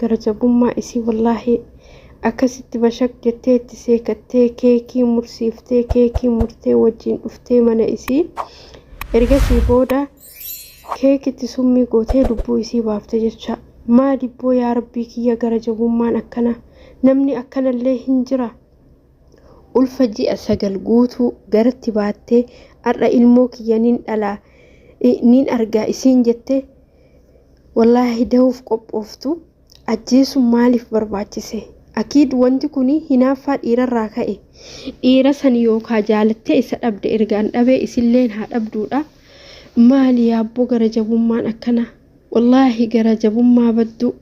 gara jabummaa isii wallaahi akkasitti bashak jettee itti seekattee keekii mursiiftee keekii murtee wajjiin dhuftee mana isii ergasii booda keekitti summii gootee lubbuu isii baafte jecha maa dibboo yaa rabbii kiyya gara jabummaan akkana namni akkanallee hin jira ulfa ji'a sagal guutuu garatti baattee har'a ilmoo kiyya nin dhalaa nin argaa isiin jette Wallaahi dahuuf qophooftu ajjeesuun maaliif barbaachise? Akiid wanti kun hinaaffaa dhiirarraa ka'e. Dhiira san yookaa jaalattee isa dhabde ergaan dhabee isilleen haa dhabduudha. Maali yaabboo gara jabummaan akkana? Wallaahi gara jabummaa badduu.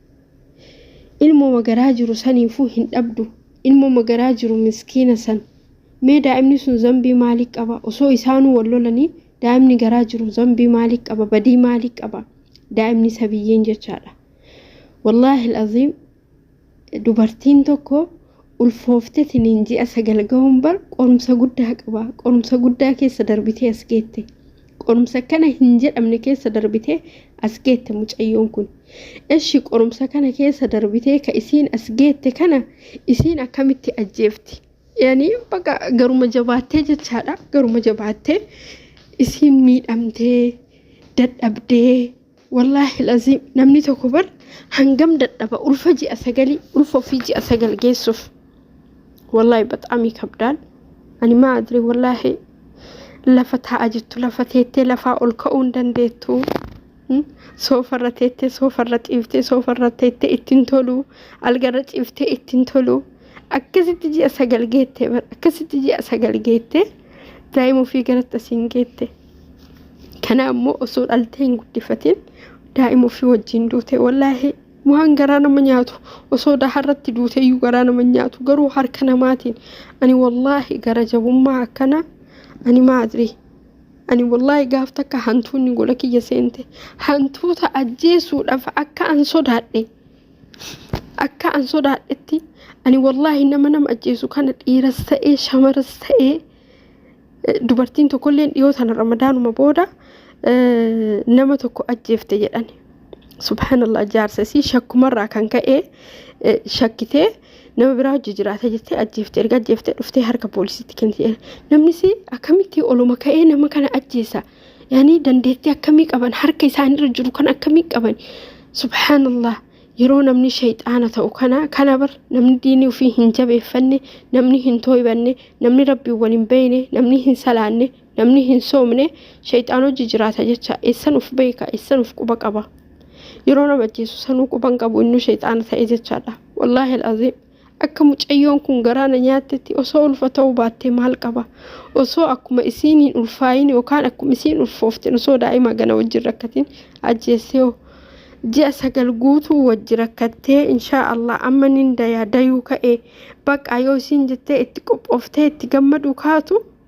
Ilmoma garaa jiru saniifuu hin dhabdu. Ilmoma garaa jiru miskiina san. Mee daa'imni sun zambii maalii qaba? Osoo isaanuu wal lolanii Daa'imni garaa jiru zambii maalii qaba badii maalii qaba daa'imni sabiyyeen jechaadha wallaahi al'aziim dubartiin tokko ulfooftetiniin ji'a sagal gahuun bar qorumsa guddaa qaba qorumsa guddaa keessa darbitee as geette qorumsa kana hin jedhamne keessa darbitee as geette mucayyoon kun eshi qorumsa kana keessa darbitee ka isiin as geette kana isiin akkamitti ajjeefti yani baqa garuma jabaattee jechaadha garuma jabaattee isiin miidhamtee dadhabdee wallaahi laziim namni tokko bar hangam dadhaba ulfa ji'a sagalii ulfa ofii ji'a sagal geessuuf wallaahi baxaam kabdaan ani maa adri wallaahi lafa taa'aa jirtu lafa teettee lafaa ol ka'uu hin dandeettu Soofarra teettee soofarra ciiftee soofarra teettee ittiin toluu algarra ciiftee ittiin toluu akkasitti ji'a sagal geettee bara akkasitti ji'a sagal geettee daa'ima ofii garatti asiin geette. Kana ammoo osoo dhaltee hin guddifatin daa'ima ofii wajjin duute wallaahi waan garaa nama nyaatu osoo daharratti duuteyyuu garaa nama nyaatu garuu harka namaatiin ani wallaahi gara jabummaa akkana ani maadri Ani wallaahi gaaf takka hantuunni gola kiyya seente hantuuta ajjeesuudhaaf akka an sodaadhe akka an sodaadhetti ani wallaahi nama nama ajjeesu kana dhiiras ta'ee shamaras ta'ee eh, dubartiin tokkolleen dhiyoo sana ramadaanuma booda eh, nama tokko ajjeefte jedhani subhanallah jaarsa isii shakkumarraa kan ka'e eh, shakkitee nama biraa hojii jiraata jettee ajjeefte erga ajjeefte dhuftee harka poolisiitti kennite namnis akkamitti oluma ka'ee nama kana ajjeesa yaani dandeettii akkamii qaban harka isaanirra jiru kan akkamii qaban subhaanallah yeroo namni shayxaana ta'u kana kana bar namni diinii ofii hin jabeeffanne namni hin tooybanne namni rabbiin wal hin beeyne namni hin salaanne Namni hin soomne shayxaan hojii jiraata jecha eessan uf beeka eessan uf quba qaba yeroo nama ajjeesu sanuu quban qabu innuu shayxaana ta'e jechaadha wallaahi al'aziim akka mucayyoon kun garaa na nyaattetti osoo ulfa ta'uu baattee maal qaba osoo akkuma isiin hin ulfaayin yookaan akkuma isiin ulfooftin osoo daa'ima gana wajjin rakkatiin ajjeessee hoo ji'a sagal guutuu wajji rakkattee inshaa allah amma nin dayaa dayuu ka'ee baqaa yoo isiin jettee itti qophooftee itti gammaduu kaatu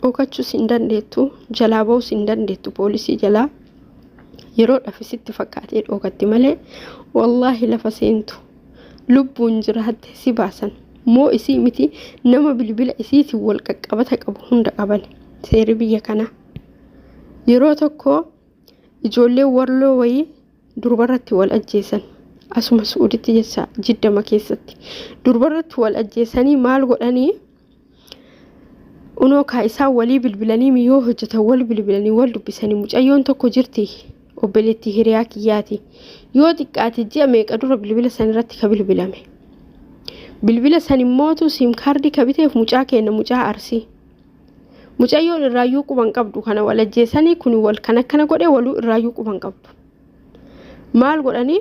Dhookachuus hin dandeettu, jalaa ba'uus hin dandeettu poolisii jalaa. Yeroo dhafi sitti fakkaatee dhookatti malee wallaahi lafa seentu lubbuun jiraatte si baasan. Moo isii miti nama bilbila isiitiin wal qaqqabata qabu hunda qaban seeri biyya kanaa. Yeroo tokko ijoollee warloo wayii durbarratti wal ajjeesan. Asuma Su'uuditti jecha jiddama keessatti. Durbarratti wal ajjeesanii maal godhanii Unoo kaa isaan walii bilbilanii miyoo hojjetan wal bilbilanii wal dubbisanii mucayyoon tokko jirti obboleettii hiriyaa kiyyaati. Yoo xiqqaate ji'a meeqa dura bilbila san irratti ka bilbilame. Bilbila san immootu siim kaardii ka biteef mucaa keenya mucaa arsii. Mucayyoon irraayyuu quban qabdu kana wal ajjeesanii kun wal kan akkana godhe waluu irraayyuu quban qabdu. Maal godhanii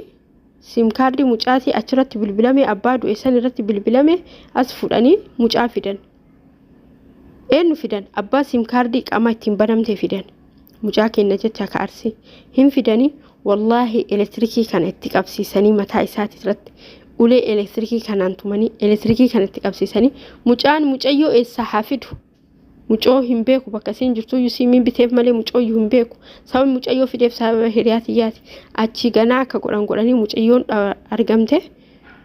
Sim kaardii mucaatii achirratti bilbilame abbaa du'e san irratti bilbilame as fudhanii mucaa fidan. Eenyu fidan abbaa sim kaardii qaama ittiin banamte fidan. Mucaa kenna jecha ka arsii hin fidanii wallaahi elektirikii kana itti qabsiisanii mataa isaati irratti ulee elektirikii kanaan tumanii elektirikii kana itti qabsiisanii mucaan mucayyoo eessaa haa fidu. Mucoo hin beeku bakka isiin jirtuyyuu siimiin biteef malee mucooyyuu hin beeku. Sababni mucayyoo fideef sababa hiriyaa tiyyaati. Achii ganaa akka godhan godhanii mucayyoon argamte.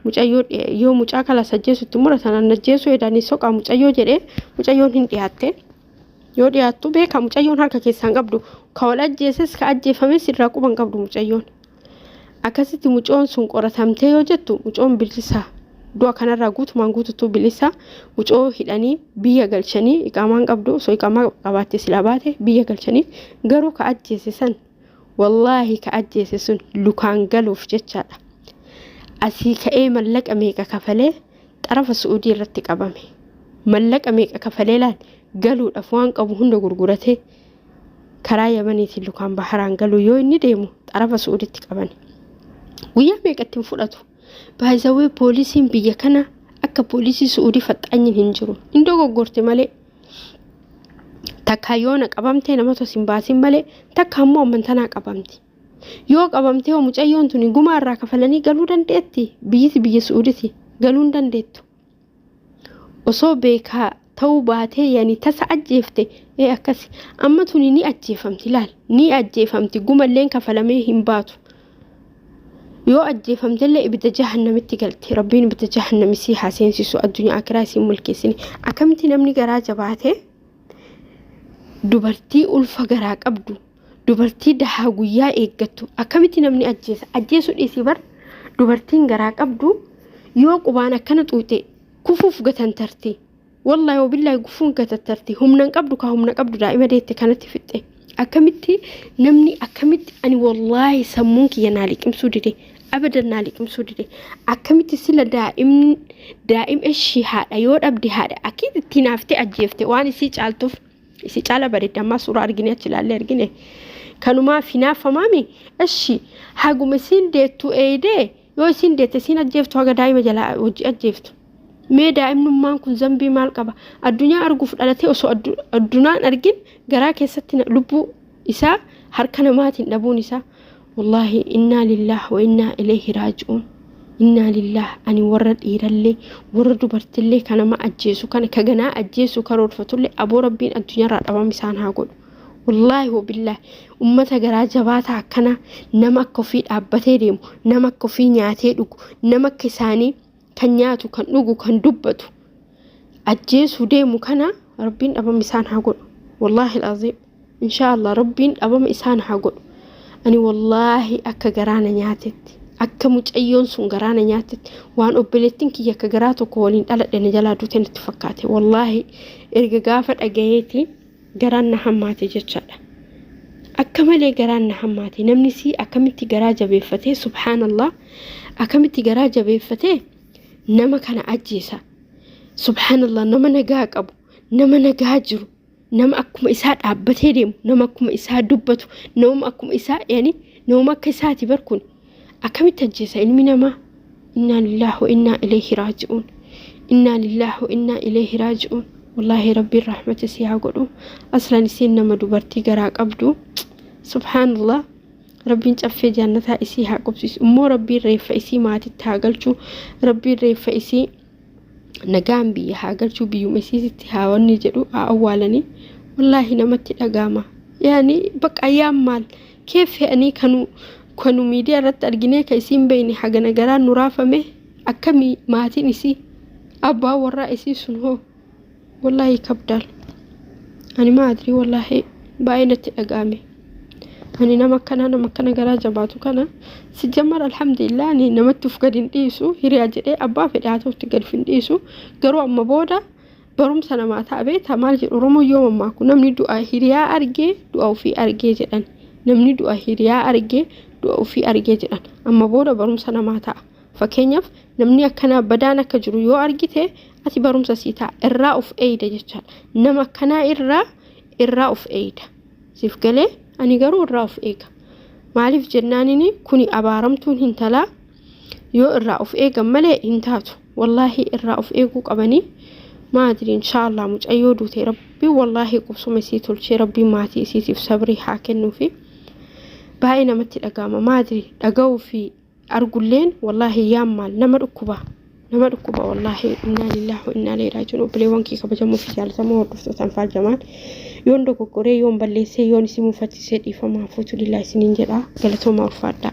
Mucayyoo yoo mucaa kala sajjeesutti muratan annajjeesuu edanii soqaa mucayyoo jedhee mucayyoon hin dhiyaatte. Yoo dhiyaattu beeka mucayyoon harka keessaan qabdu. Ka wal ajjeeses ka ajjeefames irraa quban qabdu mucayyoon. Akkasitti mucoon sun qoratamtee yoo jettu mucoon bilisa du'a kanarraa guutumaan guututuu bilisa mucoo hidhanii biyya galchanii iqaamaan qabdu osoo iqaamaa qabaatte silaa baate biyya galchanii garuu ka ajjeese san wallaahi ka ajjeese sun lukaan galuuf jechaadha. Asii ka'ee mallaqa meeqa kafalee xarafa su'uudii irratti qabame. Mallaqa meeqa kafalee laal galuudhaaf waan qabu hunda gurguratee karaa yamaniitiin lukaan baharaan galuu yoo inni deemu xarafa su'uditti qabani guyyaa meeqatti hin fudhatu baay'isawee poolisiin biyya kana akka poolisii su'udii faxxaanyin hin jiru hin dogoggorte malee takkaa yoona qabamtee nama tos hin baasin malee takka ammoo ammantanaa qabamti yoo qabamtee hoo mucayyoon tuni gumaa irraa kafalanii galuu dandeetti biyyiti biyya su'uditi galuu hin dandeettu osoo beekaa ta'uu baatee yani tasa ajjeefte ee akkasi amma tuni ni ajjeefamti laal ni ajjeefamti gumalleen kafalamee hin baatu yoo ajjeefamtellee ibidda jahannamitti galti rabbiin ibidda jahannami sii haa seensisu addunyaa akiraa isiin mulkeessine akkamitti namni garaa jabaatee dubartii ulfa garaa qabdu dubartii dahaa guyyaa eeggattu akkamitti namni ajjeesa ajjeesuu dhiisii bar dubartiin garaa qabdu yoo qubaan akkana xuuxee kufuuf gatantarti wallahi wabillahi gufuun gatantarti humnan qabdu ka humna qabdu daa'ima deette kanatti fixxe akkamitti namni akkamitti ani wallahi sammuun kiyya naa liqimsuu dide abadan naa liqimsuu dide akkamitti sila daa'im daa'im ishii haadha yoo dhabde haadha akkiitti ittiin haaftee ajjeefte waan isii caaltuuf Isi caala bareeddi ammaa suuraa argine achi ilaallee argine kanumaa finaaffamaami eshi haguma isiin deettu eeydee yoo isiin deette isiin ajjeeftu haga daa'ima jalaa hojii ajjeeftu mee daa'imnummaan kun zambii maal qaba addunyaa arguuf dhalatee osoo addunaan argin garaa keessatti lubbuu isaa harka namaatiin dhabuun isaa Wallaahi innaa lillaah wa innaa ilayhi raaji'uun innaa lillaah ani warra dhiirallee warra dubartillee ka nama ajjeesu kana ka ganaa ajjeesu karoorfatullee aboo rabbiin addunyaarraa dhabama isaan haa godhu wallaahi wabillaahi ummata garaa jabaataa akkanaa nama akka ofii dhaabbatee deemu nama akka ofii nyaatee dhugu nama akka isaanii kan nyaatu kan dhugu kan dubbatu ajjeesuu deemu kana rabbiin dhabama isaan haa godhu wallaahi alaaziim inshaa allah rabbiin dhabama isaan haa godhu ani wallaahi akka garaana nyaatetti akka mucayyoon sun garaana nyaatetti waan obboleettiin kiyya akka garaa tokko waliin dhaladhe na jalaa duute natti fakkaate wallaahi erga gaafa dhagayeeti garaan na hammaate jechaadha. Akka malee garaan na hammaate namni sii akkamitti garaa jabeeffatee subhaanallah akkamitti garaa jabeeffatee nama kana ajjeesa. Subhaanallah nama nagaa qabu nama nagaa jiru nama akkuma isaa dhaabbatee deemu nama akkuma isaa dubbatu nama akkuma isaa yani nama akka isaati bar kun Akkamitti ajjeesa ilmi namaa? Innaa lillaahi wa innaa ilayhi raaji'uun. Innaa lillaahi wa innaa ilayhi raaji'uun. Wallaahi Rabbiin rahmata isii haa godhu. Aslan isiin nama dubartii garaa qabdu. Subhaanallah. Rabbiin caffee jannataa isii haa qubsiisu. Immoo Rabbiin reeffa isii maatitti haa galchu. Rabbiin reeffa isii nagaan biyya haa galchuu biyyuma isiisitti haa wanni jedhu haa awwaalanii wallaahi namatti dhagaama yaani bakka ayyaan maal kee fe'anii kanu kanu miidiyaa irratti arginee ka isiin beeyne hagana garaa nu raafame akkamii maatiin isii abbaa warraa isii sun hoo Wallaahi kabdaal. Ani maa adrii wallaahi baay'ee natti dhaga'ame. Ani nama akkanaa nama akkana garaa jabaatu kana si jammar alhamdulillah ani namatti uf gad hin dhiisu hiriyaa jedhee abbaa fedhe haa ta'utti gad hin dhiisu garuu amma booda barumsa namaa ta'a beektaa maal jedhu oromoo yoo mammaaku namni du'a hiriyaa argee du'a ofii argee jedhan namni du'a hiriyaa argee du'a ofii argee jedhan amma booda barumsa namaa ta'a. Fakkeenyaaf namni akkanaa badaan akka jiru yoo argite ati barumsa sii ta'a irraa of eeyda jechaadha. Nama akkanaa irraa irraa of eeyda. Siif galee ani garuu irraa of eega. Maaliif jennaanini kuni abaaramtuun hin talaa yoo irraa of eegan malee hin taatu. Wallaahi irraa of eeguu qabanii maadri inshaallah mucayyoo duute rabbi wallaahi qubsuma isii tolchee rabbi maatii isiitiif sabrii haa kennuufi. Baay'ee namatti dhaga'ama maadri dhaga'uu fi argulleen wallaahi yaammaan nama dhukkuba nama dhukkuba wallaahi innaa lillaahi wa innaa ilaihi raaji'uun obboleewwan kee kabajamoo fi jaalatamoo hordoftoota anfaal jamaan yoon dogoggoree yoon balleessee yoon isin mufachiisee dhiifamaa fuutu lillaahi isiniin jedha galatoomaa ulfaadhaa.